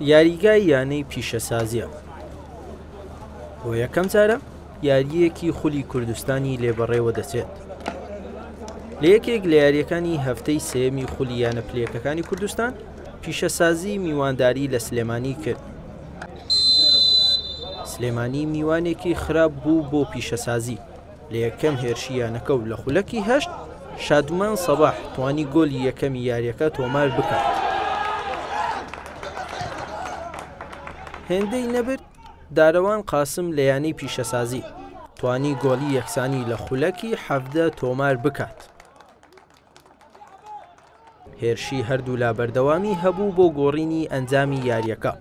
یاریگای یانەی پیشەسازییە، بۆ یەکەم جارە یارییەکی خولی کوردستانی لێ بەڕێوە دەچێت. لە یەکێک لە یاریەکانی هەفتەی سێمی خولی یانە پلەکەکانی کوردستان پیشەسازی میوانداری لە سلێمانی کرد. سلێمانی میوانێکی خراپ بوو بۆ پیشەسازی. لە یەکەم هێرشی یانەکە و لە خولەکی هەشت، شادمان سەباح توانی گۆلی یەکەمی یاریەکە تۆمار بکات. هێندەی نەبرد دارەوان قاسم لە یانەی پیشەسازی توانی گۆلی یەکسانی لە خولەکی حەڤدە تۆمار بکات. هێرشی هەردوولا بەردەوامی هەبوو بۆ گۆڕینی ئەنجامی یاریەکە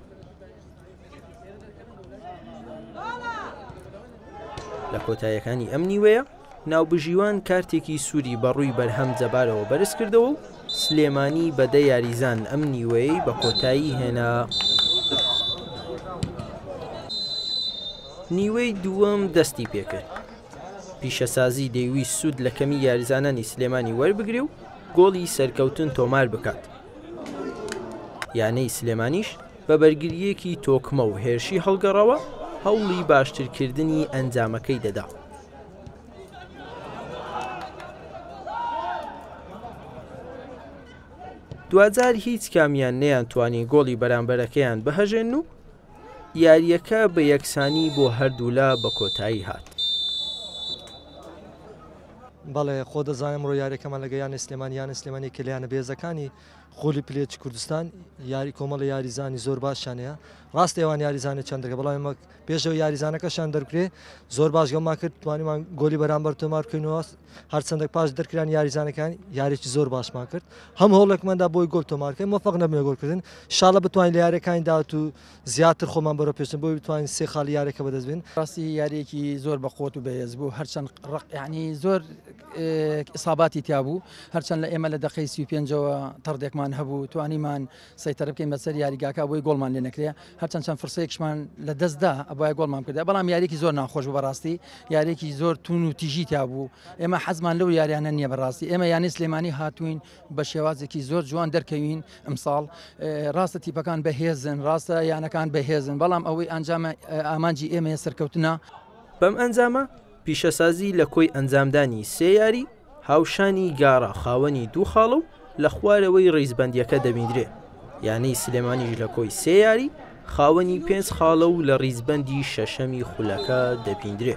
لە کۆتایەکانی ئەم نیوەیە ناوبژیوان کارتێکی سووری بەڕووی بەرهەم جەبارەوە بەرز کردەوە و سلێمانی بەدە یاریزان ئەم نیوەی بە کۆتایی هێنا. نیوەی دووەم دەستی پێکرد پیشەسازی دەیویست سوود لە کەمی یاریزانانی سلێمانی وەربگرێ و گۆڵی سەرکەوتن تۆمار بکات، یانەی سلێمانیش بە بەرگرییەکی تۆکمە و هێرشی هەڵگەڕەوە هەوڵی باشترکردنی ئەنجامەکەی دەدا. دواجار هیچ کامیان نەیانتوانی گۆڵی بەرامبەرەکەیان بهەژێنن و یارییەکە بە یەکسانی بۆ هەردوولا بە کۆتایی هات. بەڵێ خۆ دەزانێت ئەمڕۆ یاریەکەمان لەگە یانە سلێمانی یانە سلێمانی کە لەیانە بێزەکانی خۆلی پلێچ کوردستان یاری کۆمەڵە یاریزانی زۆر باشیانەیە ڕاست ئێوان یاریزانانی چندەکە بەڵام مەک پێشەوە یاریزانەکەشان دەرکرێ زۆر باش گەڵما کرد توانیمان گۆلی بەرامبەر تۆمارکەینەوە هەرچەندە پاش دەرکرانی یاریزانەکان یاریی زۆر باشمان کرد هەم هەوڵێکماندا بۆی گۆل تۆمارکەین مەفق نەبێ گۆلکردن شاڵە بتوانین لە یاریەکانی داات و زیاتر خۆمان بەرە پێشن بۆی بتوانین سێ خاڵی یاریەکە بەدەستبین ڕاستی یاریەکی زۆر بە قوت و بەهێز بوو هەرچەند ڕقیانی زۆر ئیساباتی تیابوو هەرچەند لە ئێمە لە دەقی سی پێنجەوە تەڕدێکمان هەبوو توانیمان سەیتەرە بکەین بەسەر یاریگاکە بۆی گۆڵمان لێ نەکرێ هەرچەند چەند فرسەیەکشمان لە دەستدا ئەبای گۆڵمان کردە بەڵام یاریکی زۆر ناخۆش بوو بەڕاستی یاریکی زۆر تون و تیژی تا بوو ئێمە حەزمان لەو یاریانە نییە بەڕاستی ئێمە یانی سلێمانی هاتوین بە شێوازێکی زۆر جوان دەرکەوین ئەمساڵ ڕاستە تیپەکان بەهێزن ڕاستە یانەکان بەهێزن بەڵام ئەوەی ئەنجامە ئامانجی ئێمە سەرکەوتنە بەم ئەنجامە پیشەسازی لە کۆی ئەنجامدانی سێ یاری هاوشانی گارا خاوەنی دوو خاڵە و لە خوارەوەی ریزبەندییەکە دەبیندرێ، یانەی سلێمانیش لە کۆی سێ یاری خاوەنی پێنج خاڵە و لە ریزبەندی شەشەمی خولەکە دەبیندرێ.